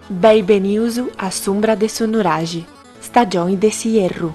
Beni benius a s'umbra de su nuraxi, stagioni de s'ierru.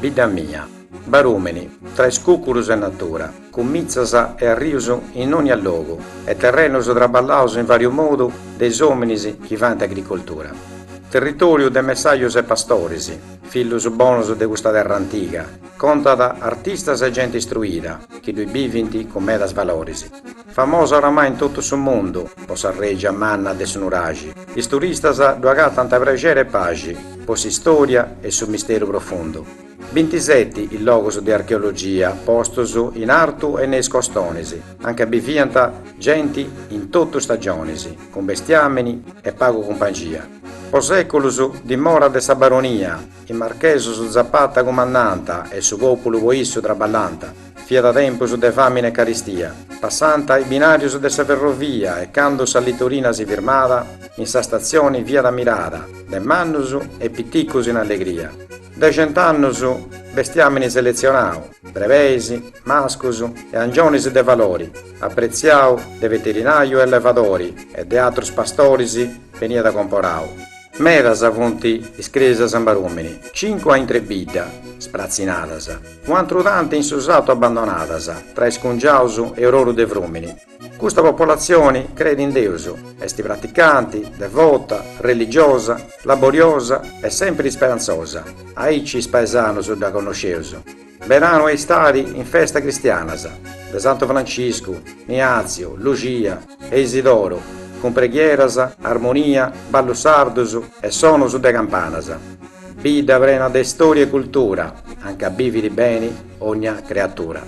Bidda mia, Barùmini tra is cùcurus e natura, cun mitzas e arrius in dònnia logu e terrenus traballaus in vàriu modu de is òminis chi faint agricoltura. Territòriu de messajus e pastoris, fillus bonus de custa terra antiga, contat artistas e genti istruida chi ddui bivint cun medas valoris. Famosa oramai in totu su mundu po sa règia manna de su nuraxi, is turistas ddu agatant prexeri e paxi po s'istòria e su misteru profundu. Bintiseti is logus de archeologia postus in artu e in is costonis, anca biviant genti in totu stagionis, cun bestiàmini e pagu cumpangia. Po sèculus dimora de sa baronia. Is marchesus Zapata cumandànt e su pòpulu po issu traballànt. Fiat tempus de fàmina e caristia. Passànt is binàrius de sa ferrovia e candu sa litorina si firmàt, in sa statzioni fiat ammirada de mannus e piticus in allegria. De cent'annus bestiàmini seletzionau, brebeis, mascus e angionis de valori, apretziau de veterinàriu e allevadori e de atrus pastoris beniat comporau. Medas funt is crèsias in Barùmini, cincu a intre bidda, spratzinadas, un'atru tanti in su satu abbandonadas, tra is cungiaus e ororu de frumini. Custa popolatzioni creit in Deus, est praticanti, devota, religiosa, laboriosa e sèmpiri isperantzosa, aici is paesanus dda connosceus. Beranu e istadi in festa cristianas de Santu Franciscu, Niaziu, Luxia e Isidoru cun preghieras, armonia, ballus sardus e sonus de campanas. Bidda prena de istoria e cultura, anca bivit beni dogna creatura.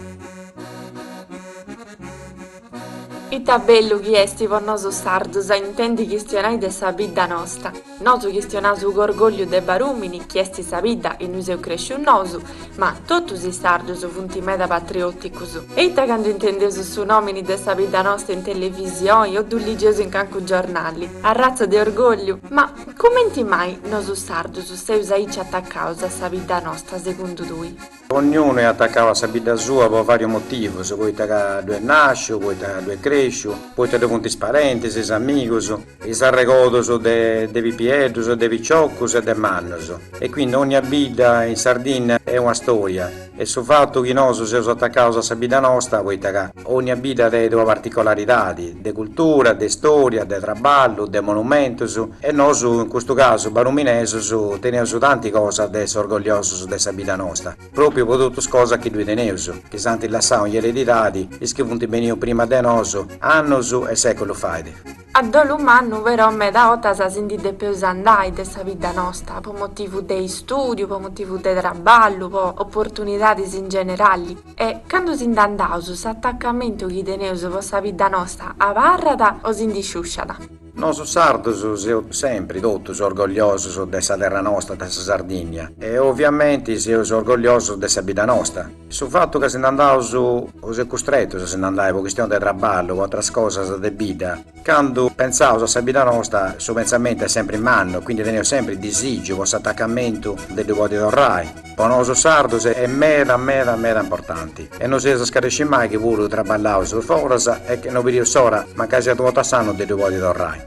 Ita bellu chi esti po nosu sardus a intendi chistionai de sa bidda nosta. Nosu chistionaus cun orgògliu de Barùmini chi esti sa bidda innui seus crèscius nosu, ma totus is sardus funti meda patriòticus. E ita candu intendeus su nòmini de sa bidda nosta in televisioi o ddu ligeus in cancu giornali. Arratza de orgògliu! Ma, cumenti mai nosu sardus seus aici atacaus a sa bidda nosta segundu tui? Dogniunu est atacau a sa bidda sua po varius motivus, poita ca ddu est nasciu, poita ddu est cresciu, poita ddu funt is parentis, is amigus, is arregodus de pipieddus, de piciocus e de mannus. E quindi dogna bidda in Sardinna est una storia e su fatu chi nosu seus atacaus a sa bidda nosta poita ca. Ònnia bidda tenet una particolaridade de cultura, de istòria, de traballu, de monumentos e nosu, in custu casu baruminesos, teneus tanti cosas de essi orgogliosos de sa bidda nosta, pròpiu pro totus is cosas chi ddui teneus, chi s'ant lassau in eredidade is chi funt benius prima de nosu, annos e sèculus fait. A dolu mannu però meda 'otas si ndi depeus andai de sa bidda nosta, po motivu de istùdiu, po motivu de traballu, po oportunidadis in generali. E candu si nd'andaus s'atacamentu chi teneus po sa bidda nosta abarrat o si ndi sciusciat. Nosu sardus seus sempri totus orgogliosus de sa terra nosta, de sa Sardìnnia, e oviamenti seus orgogliosus de sa bidda nosta. Su fatu ca si nd'andaus seus custretus a si nd'andai po chistioni de traballu, po atras cosas de vida, candu pentzaus a sa bidda nosta su pentzamentu est sempri mannu e quindi teneus sempri disìgiu po s'atacamentu de ddu podi torrai, po nosu sardus est meda meda meda importanti e no si nci scarescit mai chi puru traballaus foras e no bidius s'ora, mancai siat u' 'orta a s'annu, de ddu podi torrai.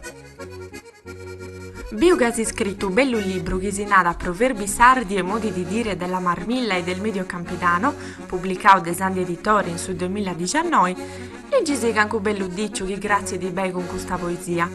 Biu ca as iscritu u bellu libru chi si narat Proverbi sardi e modi di dire della Marmilla e del Medio Campidano, publicau de Sandhi Editore in su duemiladiciannoi, liggi-sì cancu bellu diciu chi cratzidi bei cun custa poesia.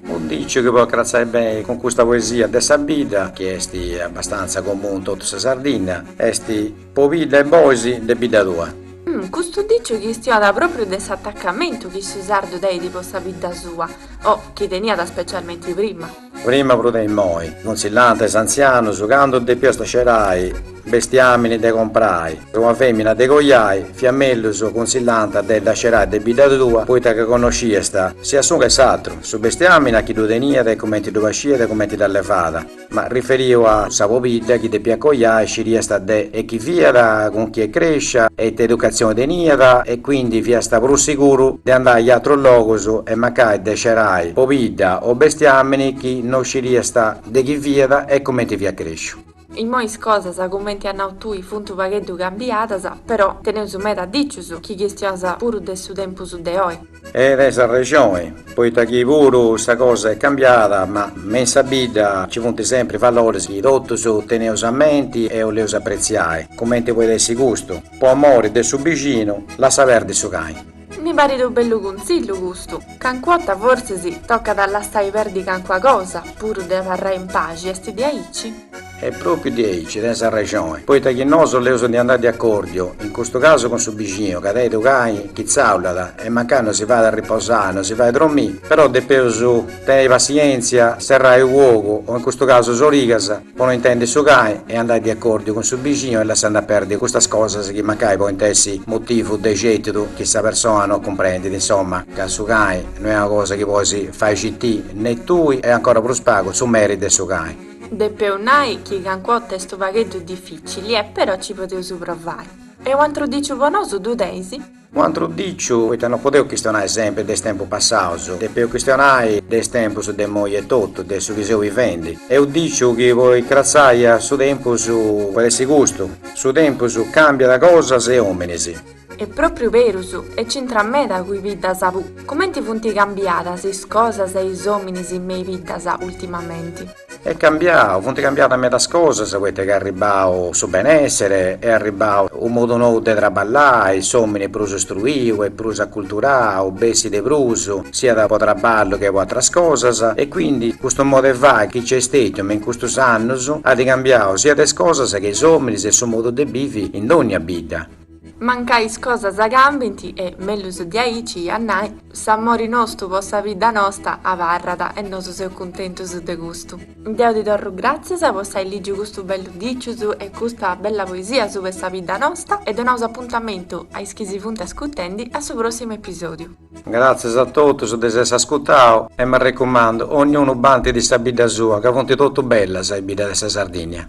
U diciu chi podit cratzai bei cun custa poesia de sa bidda, chi esti abbastantza comunu in totu sa Sardinna, esti. Pobidda e bois de bidda tua. Custu diciu chistionada propriu de s'attaccamentu chi su sardu teidi po sa bidda sua, o chi teniada specialmenti prima. Prima prus de immoi, cunsillànt is antzianus, candu depiast scerai bestiamini de comprai e una femina de coiai, fiat mellus cunsillànt de dda scerai de bidda tua, poita ca connosciast, sia s'unu che s'atru, su bestiamini a chi ddu teniat e cumenti ddu pasciat e cumenti dd'allevàt. Ma riferiu a sa pobidda chi depiat coiai sciriast de chi fiat, cun chi est crescia e ita educatzioni teniat e quindi fiast prus siguru de andai a atrus logus e mancai de scerai pobidda o bestiamini chi no sciriast de chi fiat e cumenti fiat cresciu. Immoi is cosas, cumenti as nau tui, funt u' pagheddu cambiadas, però teneus meda dicius chi chistionant puru de su tempus de oi. E tenis arrexoni, poita chi puru sa cosa est cambiada, ma me in sa bidda nci funt sempri valores chi totus teneus a menti e 'oleus apretziai, cumenti podit essi custu, po amori de su bixinu lassa perdi su cai. Mi parit u bellu cunzillu custu, cancu 'otta forsis tocat a lassai perdi cancua cosa, puru de abarrai in paxi, est diaici? E propriu di aici tenis arrexoni, poita chi nosu depeus andai de acordiu, in custu casu cun su bixinu, ca tenit u cai chi zaulat, e mancai no si fait a riposai, no si fait dromi, però depeus teniri passienzia, serrai u ogu, o in custu casu s'origas, po no intendi su cai, e andai de acordiu cun su bixinu e lassandi a perdi custas cosas chi mancai podint essi motivu de certidu chi sa persona no cumprendit, insomma, ca su cai no est una cosa chi podis fai citiri, ne tui e ancora prus pagu su meri de su cai. Depeu nai chi cancua ota est unu pagheddu dificili e però ci podeus provari. E u antru diciu po nosu ddu teis? U antru diciu, poita no podeu chistionai sempri de is tempus passaus, depeu chistionai de is tempus de immoi etotu, de su chi seu bivendi. E u diciu chi po incratzai a su tempus podit essi custu, su tempus cambiat cosas e ominis. Est propriu berus, e c'intrat meda cun is biddas puru. Comenti funti cambiadas is cosas e is ominis me is biddas ultimamenti. Est cambiau, funti cambiadas medas cosas poita chi est arribau su benessere, est arribau u modu nou de traballai, s'omini est prus istruiu e prus acculturau, bessit de prus, siat po traballu che po atras cosas, e quindi custu modu 'e fai chi c'è stetiu me in custus annus at cambiau siat is cosas che is ominis e su modu de bivi in dogna bidda. Mancai is cosas cambint e, mellus diaici a nai, s'amori nostu po sa bidda nosta abarrat e nosu seus cuntentus de custu. Deu ti torru gràtzias po s'ai lìgiu custus bellus dicius e custa bella poesia sub'e sa bidda nosta e donaus apuntamentu a is chi si funt ascutendi a su pròssimu episòdiu. Gràtzias a totus de s'essi ascutau e m'arrecumandu, ognunu bantit de sa bidda sua ca funt totu bellas is biddas de sa Sardìnnia.